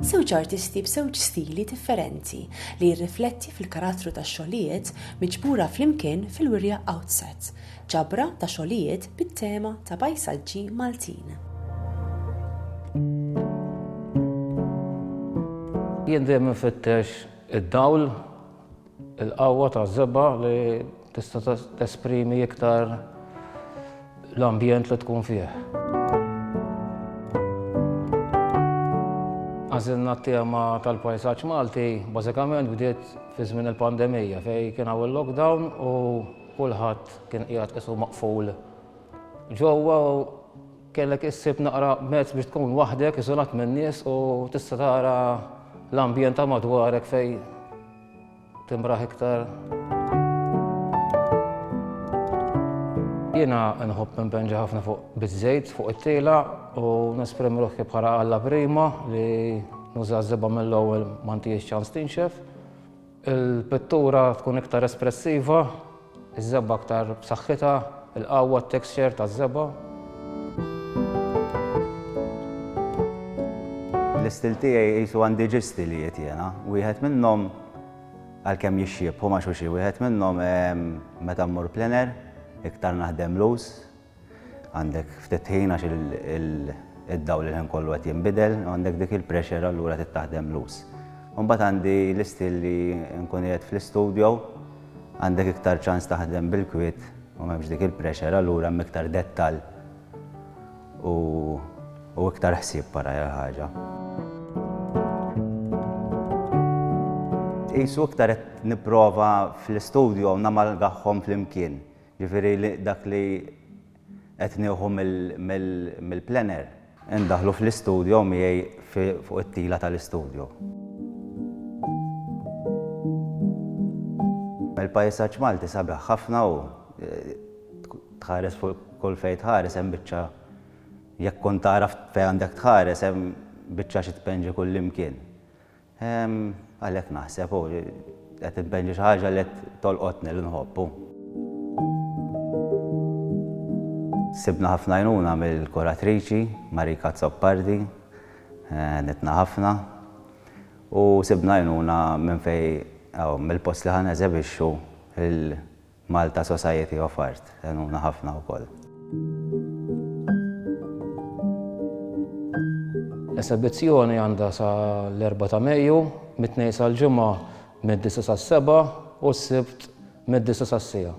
Żewġ artisti b'żewġ stili differenti li jirrifletti fil-karattru tax-xogħlijiet miġbura flimkien fil-wirja Outset, ġabra ta' xogħlijiet bit-tema ta' pajsaġġi Maltin. Jien dejjem infittex id-dawl. Il-qawwa taż-żebgħa li tista' tesprimi iktar l-ambjent li tkun fih. Għażilna t-tema tal-pajsaġġ Malti bażikament bdiet fi żmien il-pandemija fejn kien hawn il-lockdown u kulħadd kien qiegħed qisu maqful ġewwa u kellek issib naqra mezz biex tkun waħdek iżolat min-nies u tista' tara l-ambjent ta' madwarek fejn Timbraħ iktar. Jiena nħobb impenġa ħafna fuq bizzejt, fuq it-tila u nesprem ruħi bħala għalla prima li nuża zeba mill-ewwel ma ntijiex ċans tinxef. Il-pittura tkun iktar espressiva, Iż-żebgħa aktar b'saħħitha, il-qawwa, t-texture taż-żebgħa. L-istil tiegħi qisu għandi ġie stili jgħid jiena. Wieħed minnhom, għalkemm jixxiebħu ma' xulxin, wieħed minnhom meta mmur plein air, iktar naħdem loose, għandek ftit ħin għax id-dawl il-ħin kollu qed jinbidel, għandek dik il-pressure allura trid taħdem loose. Imbagħad għandi l-istil li nkun qiegħed fl-istudio, għandek iktar ċans taħdem bil-kwiet u m'hemmx dik il-pressure allura hemm iktar dettall u iktar ħsieb wara l-ħaġa. Qisu iktar qed nipprova fl-istudio namalgahom flimkien. Jiġifieri li dak li qed nieħu mill-plener indaħħlu fl-istudjo miegħi fuq it-tila tal-istudjo. Il-pajsaġġ Malti sabiħ ħafna u tħares fuq kull fejn tħares hemm biċċa jekk tkun tagħraf fejn għandek tħares hemm biċċa xi tpenġi kullimkien. Għalhekk naħseb, u qed inbenġi xi ħaġa li qed tolqotni li nħobb, u. Sibna ħafna għajnuna mill-kuratriċi, Marika Azzopardi, għenitna ħafna, u sibna għajnuna minn fejn, mill-post li ħa neżebixxu, Malta Society of Art għenuna ħafna wkoll. L-esebizzjoni għandha sa l-Erbgħa ta' Mejju mit-Tnejn sal-Ġimgħa mid-disgħa sas-sebgħa u s-Sibt mid-disgħa sas-siegħa.